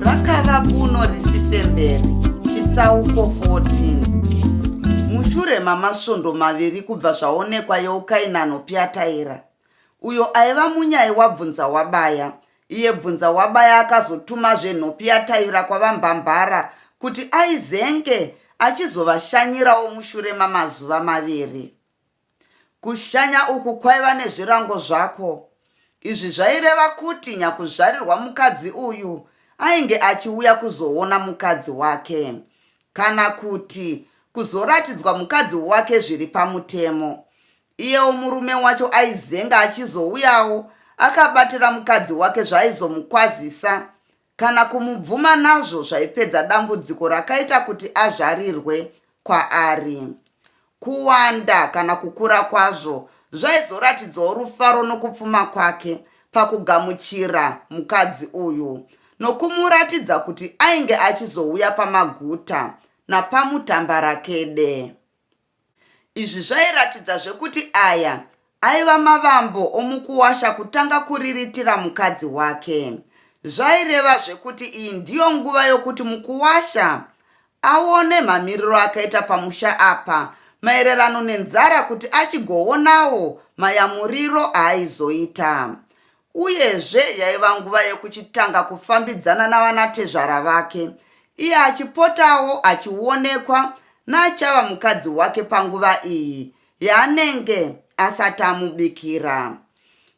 rakava kuno risifemberi chitsauko 14 mushure mamasvondo maviri kubva zvaonekwa yeukainano pyataira uyo aiva munyai wabvunza wabaya iye bvunza wabaya akazotumazve nhopi yataira kwavambambara kuti aizenge achizovashanyirawo mushure mamazuva maviri Kushanya uku kwaiva nezvirango zvako. Izvi zvaireva kuti nyakuzvarirwa mukadzi uyu ainge achiuya kuzoona mukadzi wake kana kuti kuzoratidzwa mukadzi wake zviri pamutemo. Iyewo murume wacho aizenga achizouyawo akabatira mukadzi wake zvaaizomukwazisa kana kumubvuma nazvo zvaipedza dambudziko rakaita kuti azvarirwe kwaari. Kuwanda kana kukura kwazvo zvaizoratidzawo rufaro nokupfuma kwake pakugamuchira mukadzi uyu nokumuratidza kuti ainge achizouya pamaguta napamutambarakede. Izvi zvairatidzazve kuti aya aiva mavambo omukuwasha kutanga kuriritira mukadzi wake. Zvairevazve kuti iyi ndiyo nguva yokuti mukuwasha aone mamiriro akaita pamusha apa maererano nenzara kuti achigoonawo mayamuriro aaizoita. Uyezve yaiva nguva yekuchitanga kufambidzana navanatezvara vake, iye achipotawo achionekwa naachava mukadzi wake panguva iyi yaanenge asati amubikira.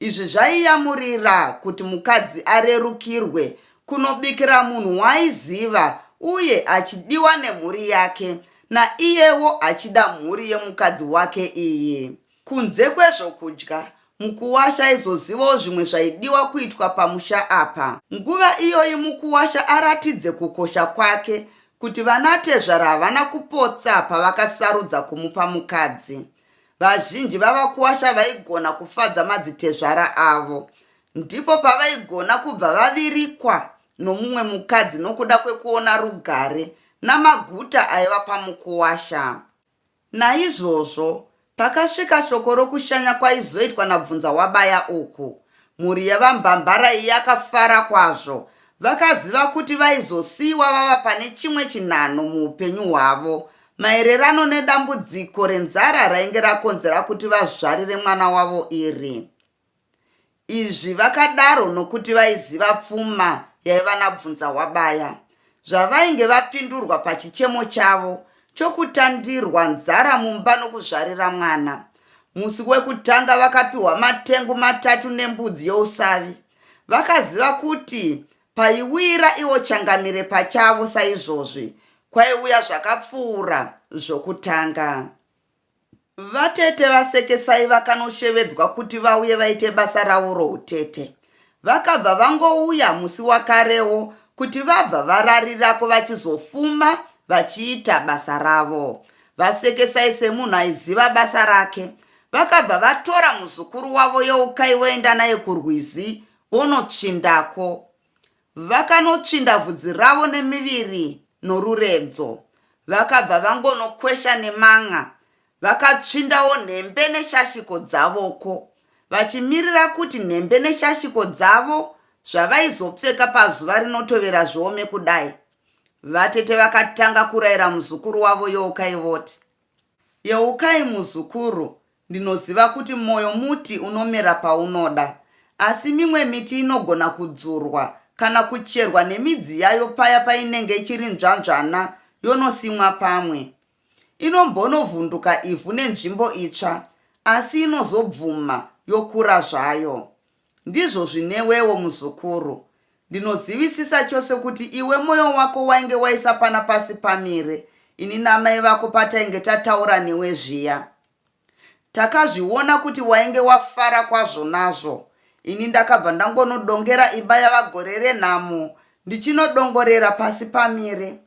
Izvi zvaiyamurira kuti mukadzi arerukirwe kunobikira munhu waaiziva uye achidiwa nemhuri yake naiyewo achida mhuri yemukadzi wake iyi. Kunze kwezvokudya, mukuwasha aizozivawo zvimwe zvaidiwa kuitwa pamusha apa. Nguva iyoyi mukuwasha aratidze kukosha kwake kuti vanatezvara havana kupotsa pavakasarudza kumupa mukadzi. Vazhinji vavakuwasha vaigona kufadza madzitezvara avo. Ndipo pavaigona kubva vavirikwa nomumwe mukadzi nokuda kwekuona rugare namaguta aiva pamukuwasha. Naizvozvo pakasvika shoko rokushanya kwaizoitwa naBvunzawabaya uku, mhuri yaVaMbambarai yakafara kwazvo. Vakaziva kuti vaizosiiwa vava pane chimwe chinhanho muupenyu hwavo maererano nedambudziko renzara rainge rakonzera kuti vazvarire mwana wavo iri. Izvi vakadaro nokuti vaiziva pfuma yaiva naBvunzahwabaya. Zvavainge vapindurwa pachichemo chavo chokutandirwa nzara mumba nokuzvarira mwana. Musi wekutanga vakapiwa matengu matatu nembudzi yousavi. Vakaziva kuti paiwira ivo changamire pachavo saizvozvi, kwaiuya zvakapfuura zvokutanga. Vatete vasekesai vakanoshevedzwa kuti vauye vaite basa ravo routete. Vakabva vangouya musi wakarewo kuti vabva vararirako vachizofuma vachiita basa ravo. Vasekesai semunhu aiziva basa rake. Vakabva vatora muzukuru wavo Yeukai voenda naye kurwizi vonotsvindako. Vakanotsvinda vhudzi ravo nemiviri noruredzo, vakabva vangonokwesha neman'a, vakatsvindawo nhembe neshashiko dzavoko, vachimirira kuti nhembe neshashiko dzavo zvavaizopfeka pazuva rinotovera zviome kudai. Vatete vakatanga kuraira muzukuru wavo Yeukai voti, Yeukai muzukuru, Ndinoziva kuti moyo muti unomera paunoda, asi mimwe miti inogona kudzurwa kana kucherwa nemidzi yayo paya painenge ichiri nzvanzvana yonosimwa pamwe. Inombonovhunduka ivhu nenzvimbo itsva, asi inozobvuma yokura zvayo. Ndizvo zvinewewo muzukuru. Ndinozivisisa chose kuti iwe moyo wako wainge waisa pana pasi pamire ini namai vako patainge tataura newe zviya. Takazviona kuti wainge wafara kwazvo nazvo. Ini ndakabva ndangonodongera imba yavagore renhamo ndichinodongorera pasi pamire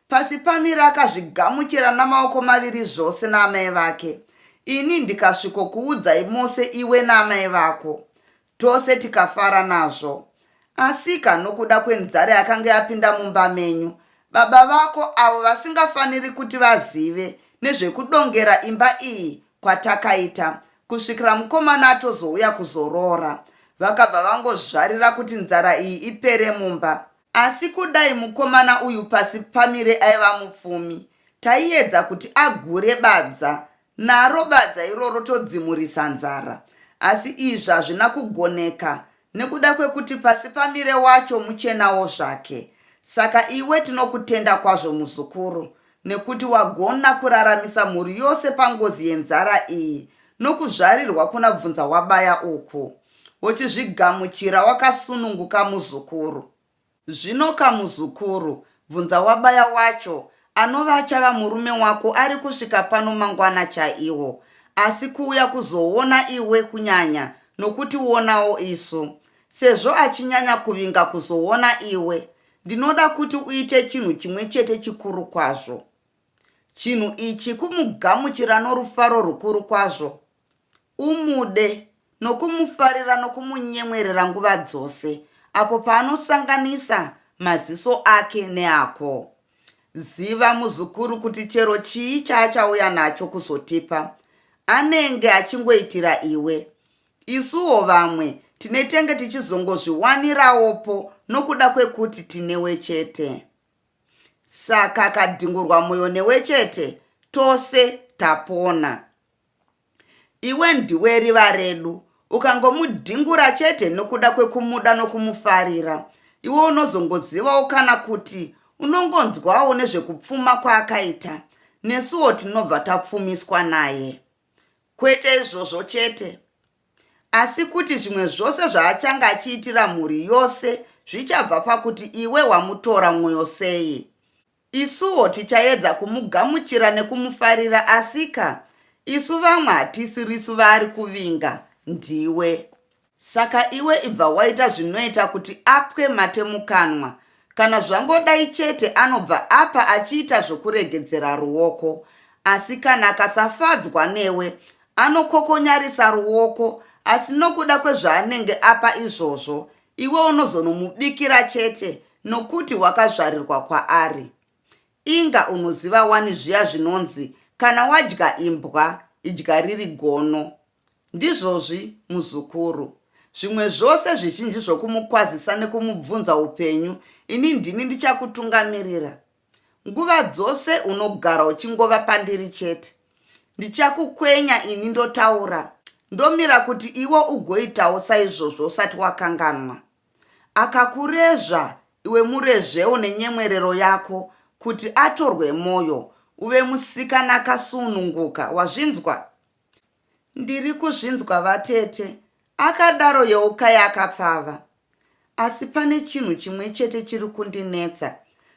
pasi pamire akazvigamuchira namaoko maviri zvose naamai vake ini ndikasviko kuudzai mose iwe naamai vako tose tikafara nazvo asika nokuda kwenzare akange apinda mumba menyu baba vako avo vasingafaniri kuti vazive nezvekudongera imba iyi kwatakaita kusvikira mukomana atozouya kuzoroora vakabva vangozvarira kuti nzara iyi ipere mumba asi kudai mukomana uyu pasi pamire aiva mupfumi taiedza kuti agure badza naro badza iroro todzimurisa nzara asi izvi hazvina kugoneka nekuda kwekuti pasi pamire wacho muchenawo zvake saka iwe tinokutenda kwazvo muzukuru nekuti wagona kuraramisa mhuri yose pangozi yenzara iyi nokuzvarirwa kuna bvunza wabaya uku wochizvigamuchira wakasununguka muzukuru zvino kamuzukuru bvunza wabaya wacho anova achava murume wako ari kusvika pano mangwana chaiwo asi kuuya kuzoona iwe kunyanya nokuti uonawo isu sezvo achinyanya kuvinga kuzoona iwe Ndinoda kuti uite chinhu chimwe chete chikuru kwazvo. Chinhu ichi kumugamuchira norufaro rukuru kwazvo. Umude nokumufarira nokumunyemwerera nguva dzose apo paanosanganisa maziso ake neako. Ziva muzukuru kuti chero chii chaachauya nacho kuzotipa, anenge achingoitira iwe. Isuwo vamwe tinetenge tichizongozviwanirawopo nokuda kwekuti tinewe chete. Saka kadhingurwa moyo newe chete, tose tapona. Iwe ndiwe riva redu, ukangomudhingura chete nokuda kwekumuda nokumufarira, iwe unozongozivawo kana kuti unongonzwawo nezvekupfuma kwaakaita nesuwo tinobva tapfumiswa naye Kwete izvozvo chete, asi kuti zvimwe zvose zvaachange achiitira mhuri yose zvichabva pakuti iwe wamutora mwoyo sei. Isuwo tichaedza kumugamuchira nekumufarira, asika isu vamwe hatisirisu vaari kuvinga, ndiwe. Saka iwe ibva waita zvinoita kuti apwe mate mukanwa. Kana zvangodai chete anobva apa achiita zvokuregedzera ruoko. Asi kana akasafadzwa newe, anokokonyarisa ruoko asi nokuda kwezvaanenge apa izvozvo, iwe unozonomubikira chete nokuti wakazvarirwa kwaari. Inga unoziva wani zviya zvinonzi kana wadya imbwa idya riri gono. Ndizvozvi muzukuru. Zvimwe zvose zvizhinji zvokumukwazisa nekumubvunza upenyu ini ndini ndichakutungamirira. Nguva dzose unogara uchingova pandiri chete. Ndichakukwenya ini ndotaura. Ndomira kuti iwe ugoitawo saizvozvo usati wakanganwa. Akakurezva iwe murezvewo nenyemwerero yako kuti atorwe moyo uve musikana akasununguka wazvinzwa? Ndiri kuzvinzwa vatete, akadaro Yeukai akapfava. Asi pane chinhu chimwe chete chiri kundinetsa.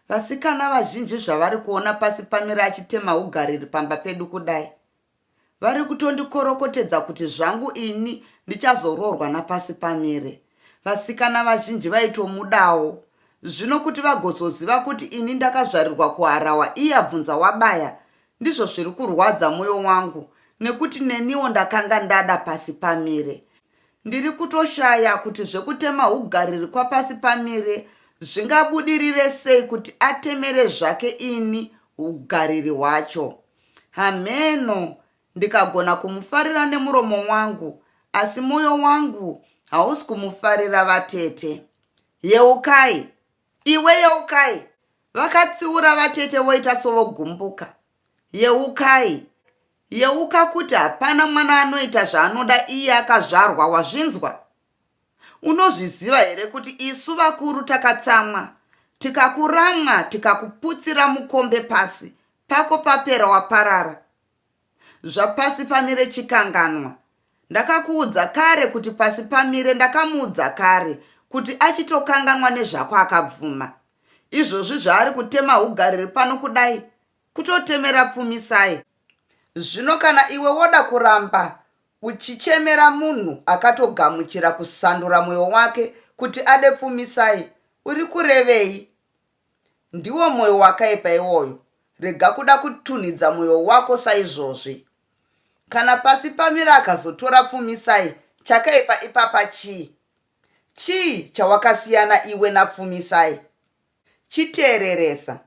Vasikana vazhinji zvavari kuona pasi pamira achitema ugariri pamba pedu kudai. vari kutondikorokotedza kuti zvangu ini ndichazoroorwa napasi pamire vasikana vazhinji vaitomudawo zvino kuti vagozoziva kuti ini ndakazvarirwa kuharawa iye abvunza wabaya ndizvo zviri kurwadza mwoyo wangu nekuti neniwo ndakanga ndada pasi pamire ndiri kutoshaya kuti zvekutema ugariri kwapasi pamire zvingabudirire sei kuti atemere zvake ini ugariri hwacho Hamheno, ndikagona kumufarira nemuromo wangu, asi mwoyo wangu hausi kumufarira vatete. Yeukai! Iwe yeukai! Vakatsiura vatete voita sovogumbuka. Yeukai! Yeuka kuti hapana mwana anoita zvaanoda iye akazvarwa, wazvinzwa? Unozviziva here kuti isu vakuru takatsamwa tikakuramwa tikakuputsira mukombe pasi pako papera waparara zvapasi pamire chikanganwa ndakakuudza kare kuti pasi pamire ndakamuudza kare kuti achitokanganwa nezvako akabvuma izvozvi zvaari kutema ugariri pano kudai kutotemera pfumisai zvino kana iwe woda kuramba Uchichemera munhu akatogamuchira kusandura moyo wake kuti ade pfumisai uri kurevei? Ndiwo moyo wakaipa iwoyo, rega kuda kutunhidza moyo wako saizvozvi. Kana pasi pamira akazotora pfumisai chakaipa ipapa chii? Chii chawakasiyana iwe napfumisai? Chiteereresa.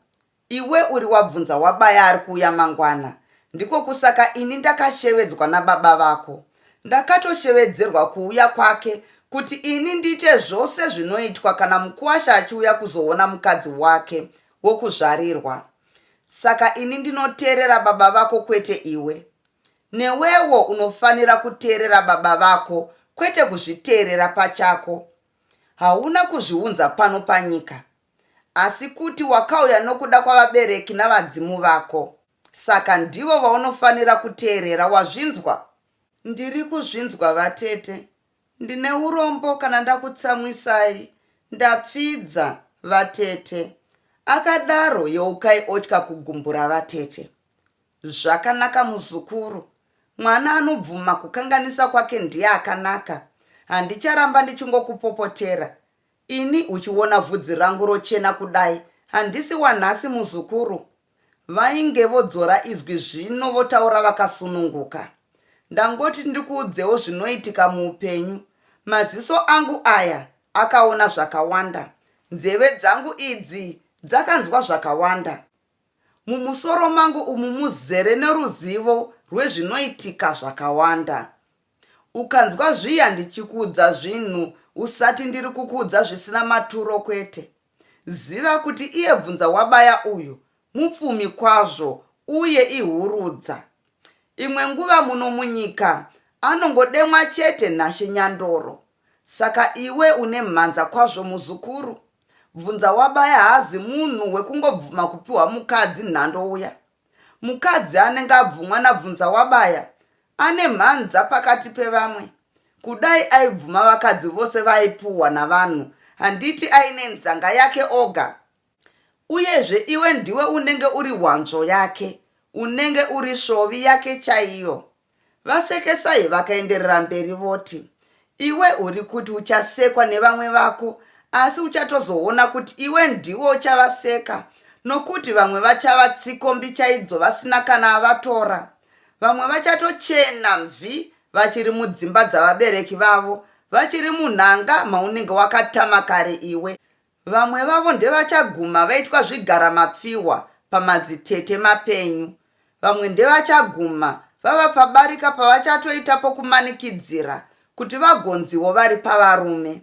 Iwe uri wabvunza wabaya ari kuuya mangwana, ndiko kusaka ini ndakashevedzwa nababa vako. Ndakatoshevedzerwa kuuya kwake kuti ini ndiite zvose zvinoitwa kana mukuwasha achiuya kuzoona mukadzi wake wokuzvarirwa. Saka ini ndinoteerera baba vako kwete iwe. Newewo unofanira kuteerera baba vako kwete kuzviteerera pachako. Hauna kuzviunza pano panyika, asi kuti wakauya nokuda kwavabereki navadzimu vako. Saka ndivo vaunofanira kuteerera, wazvinzwa? Ndiri kuzvinzwa, vatete. Ndine urombo kana ndakutsamwisai. Ndapfidza, vatete. Akadaro Yeukai otya kugumbura vatete. Zvakanaka muzukuru. Mwana anobvuma kukanganisa kwake ndiye akanaka. Handicharamba ndichingokupopotera. Ini uchiona vhudzi rangu rochena kudai handisi wanhasi muzukuru. Vainge vodzora izwi zvino votaura vakasununguka. Ndangoti ndikuudzewo zvinoitika muupenyu. Maziso angu aya akaona zvakawanda. Nzeve dzangu idzi dzakanzwa zvakawanda. Mumusoro mangu umu muzere neruzivo rwezvinoitika zvakawanda. Ukanzwa zviya ndichikuudza zvinhu usati ndiri kukuudza zvisina maturo kwete. Ziva kuti iye bvunza wabaya uyu mupfumi kwazvo uye ihurudza. Imwe nguva muno munyika anongodemwa chete Nashe Nyandoro. Saka iwe une mhanza kwazvo muzukuru. bvunza wabaya haazi munhu wekungobvuma kupiwa mukadzi nhando uya mukadzi anenge abvumwa nabvunza wabaya ane mhanza pakati pevamwe kudai aibvuma vakadzi vose vaipuhwa navanhu handiti aine nzanga yake oga uyezve iwe ndiwe unenge uri hwanzvo yake unenge uri svovi yake chaiyo VaSekesai vakaenderera mberi voti, Iwe uri kuti uchasekwa nevamwe vako asi uchatozoona kuti iwe ndiwe uchavaseka nokuti vamwe vachava tsikombi chaidzo vasina kana avatora. Vamwe vachatochena mvi vachiri mudzimba dzavabereki vavo, vachiri munhanga maunenge wakatama kare iwe. Vamwe vavo ndevachaguma vaitwa zvigara mapfihwa pamadzitete mapenyu. Vamwe ndevachaguma vava pabarika pavachatoita pokumanikidzira kuti vagonziwo vari pavarume.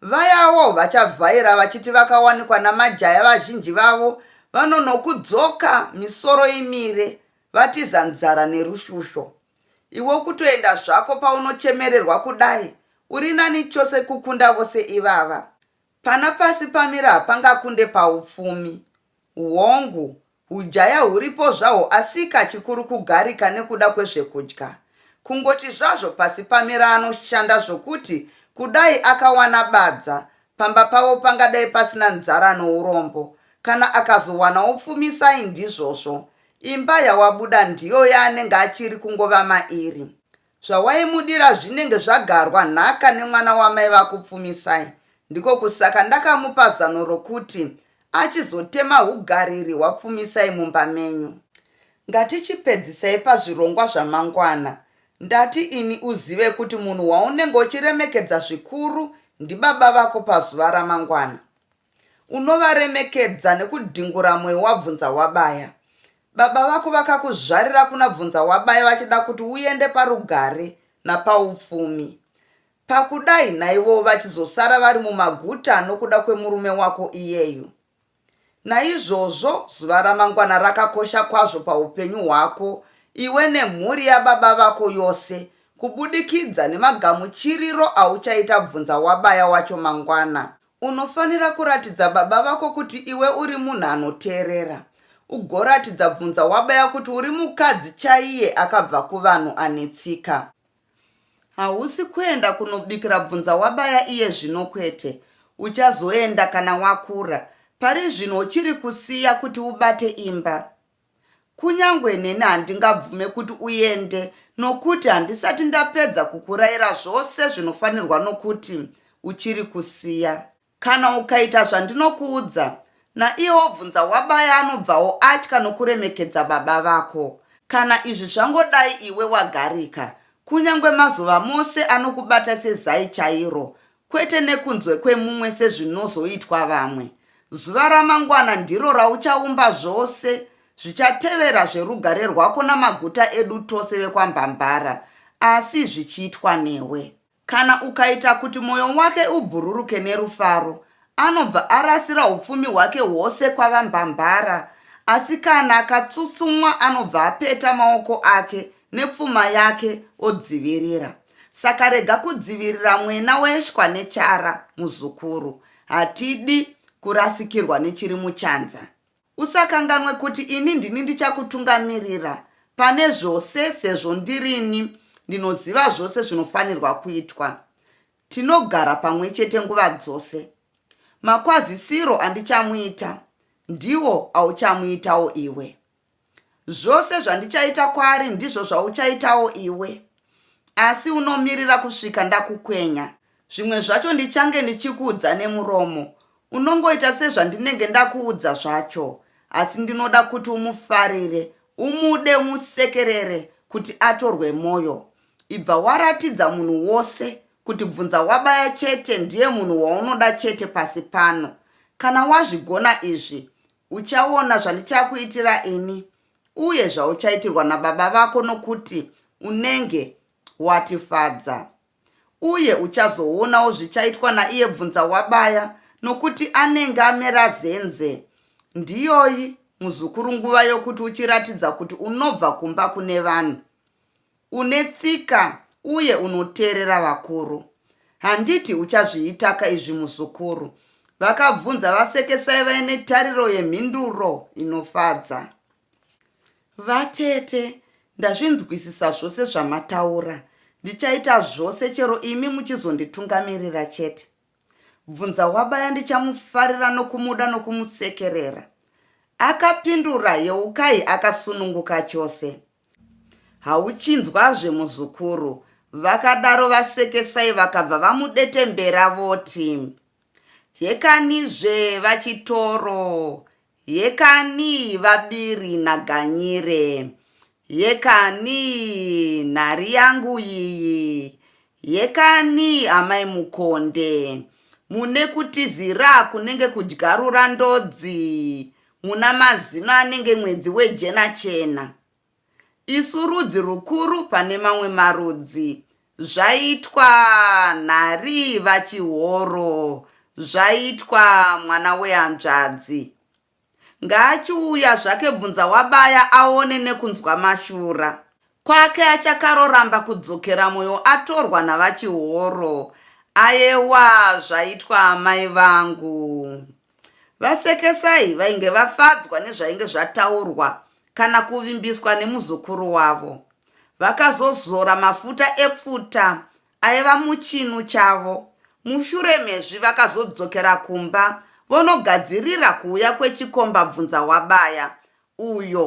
Vayawo vachavhaira vachiti vakawanikwa namajaya vazhinji vavo vanonokudzoka misoro imire vatiza nzara nerushusho. Iwe kutoenda zvako paunochemererwa kudai uri nani chose kukunda vose ivava. Pana pasi pamira hapangakunde paupfumi. Hongu, hujaya huripo zvahwo asika chikuru kugarika nekuda kwezvekudya. Kungoti zvazvo pasi pamira anoshanda zvokuti kudai akawana badza, pamba pavo pangadai pasina nzara nourombo. Kana akazowana upfumi sai ndizvozvo. Imba yawabuda ndiyo yaanenge achiri kungova mairi. Zvawaimudira zvinenge zvagarwa nhaka nemwana wamai vako Pfumisai. Ndiko kusaka ndakamupa zano rokuti achizotema ugariri hwaPfumisai mumba menyu. Ngatichipedzisai pazvirongwa zvamangwana. Ndati ini uzive kuti munhu waunenge uchiremekedza zvikuru ndibaba vako pazuva ramangwana. Unovaremekedza nekudhingura moyo wabvunza wabaya. Baba vako vakakuzvarira kuna bvunza wabaya vachida kuti uende parugare napaupfumi. Pakudai naivowo vachizosara vari mumaguta nokuda kwemurume wako iyeyu. Naizvozvo zuva ramangwana rakakosha kwazvo paupenyu hwako iwe nemhuri yababa vako yose kubudikidza nemagamuchiriro auchaita bvunza wabaya wacho mangwana. Unofanira kuratidza baba vako kuti iwe uri munhu anoteerera. Ugoratidza bvunza wabaya kuti uri mukadzi chaiye akabva kuvanhu ane tsika. Hausi kuenda kunobikira bvunza wabaya iye zvino kwete. Uchazoenda kana wakura. Pari zvino uchiri kusiya kuti ubate imba. Kunyangwe neni handingabvume kuti uende nokuti handisati ndapedza kukuraira zvose zvinofanirwa nokuti uchiri kusiya. Kana ukaita zvandinokuudza, naiye wobvunza wabaya anobvawo atya nokuremekedza baba vako. Kana izvi zvangodai iwe wagarika, kunyangwe mazuva mose anokubata sezai chairo, kwete nekunzwe kwemumwe sezvinozoitwa vamwe. Zuva ramangwana ndiro rauchaumba zvose zvichatevera zverugare rwako namaguta edu tose vekwambambara, asi zvichiitwa newe. Kana ukaita kuti mwoyo wake ubhururuke nerufaro, anobva arasira upfumi hwake hwose kwavambambara, asi kana akatsutsumwa anobva apeta maoko ake nepfuma yake odzivirira. saka rega kudzivirira mwena weshwa nechara muzukuru hatidi kurasikirwa nechiri muchanza usakanganwe kuti ini ndini ndichakutungamirira pane zvose sezvo ndirini ndinoziva zvose zvinofanirwa kuitwa tinogara pamwe chete nguva dzose makwazisiro andichamuita ndiwo auchamuitawo iwe Zvose zvandichaita kwaari ndizvo zvauchaitawo iwe, asi unomirira kusvika ndakukwenya. Zvimwe zvacho ndichange ndichikuudza nemuromo, unongoita sezvandinenge ndakuudza zvacho, asi ndinoda kuti umufarire, umude, umusekerere kuti atorwe mwoyo. Ibva waratidza munhu wose kuti Bvunzawabaya chete ndiye munhu waunoda chete pasi pano. Kana wazvigona izvi, Uchaona zvandichakuitira ini uye zvauchaitirwa nababa vako nokuti unenge watifadza. Uye uchazoonawo zvichaitwa naiye bvunza wabaya nokuti anenge amera zenze. Ndiyoyi muzukuru nguva yokuti uchiratidza kuti unobva kumba kune vanhu. Une tsika uye unoteerera vakuru. Handiti uchazviitaka izvi muzukuru? Vakabvunza vasekesai vaine tariro yemhinduro inofadza. Vatete, ndazvinzwisisa zvose zvamataura. Ndichaita zvose chero imi muchizonditungamirira chete. bvunza wabaya ndichamufarira nokumuda nokumusekerera akapindura yeukai akasununguka chose hauchinzwazve muzukuru vakadaro vasekesai vakabva vamudetembera voti hekanizve vachitoro Yekani vabiri naGanyire. Yekani nhari yangu iyi. Yekani amai Mukonde. Mune kutizira kunenge kudyarura ndodzi. Muna mazino anenge mwedzi wejena chena. Isu rudzi rukuru pane mamwe marudzi. Zvaitwa nhari vachihoro. Zvaitwa mwana wehanzvadzi. Ngaachiuya zvake bvunza wabaya aone nekunzwa mashura. Kwake achakaroramba kudzokera moyo atorwa navachihoro. Ayewa zvaitwa amai vangu. Vasekesai vainge vafadzwa nezvainge zvataurwa kana kuvimbiswa nemuzukuru wavo. Vakazozora mafuta epfuta aiva muchinu chavo. Mushure mezvi vakazodzokera kumba vonogadzirira kuuya kwechikomba bvunza wabaya uyo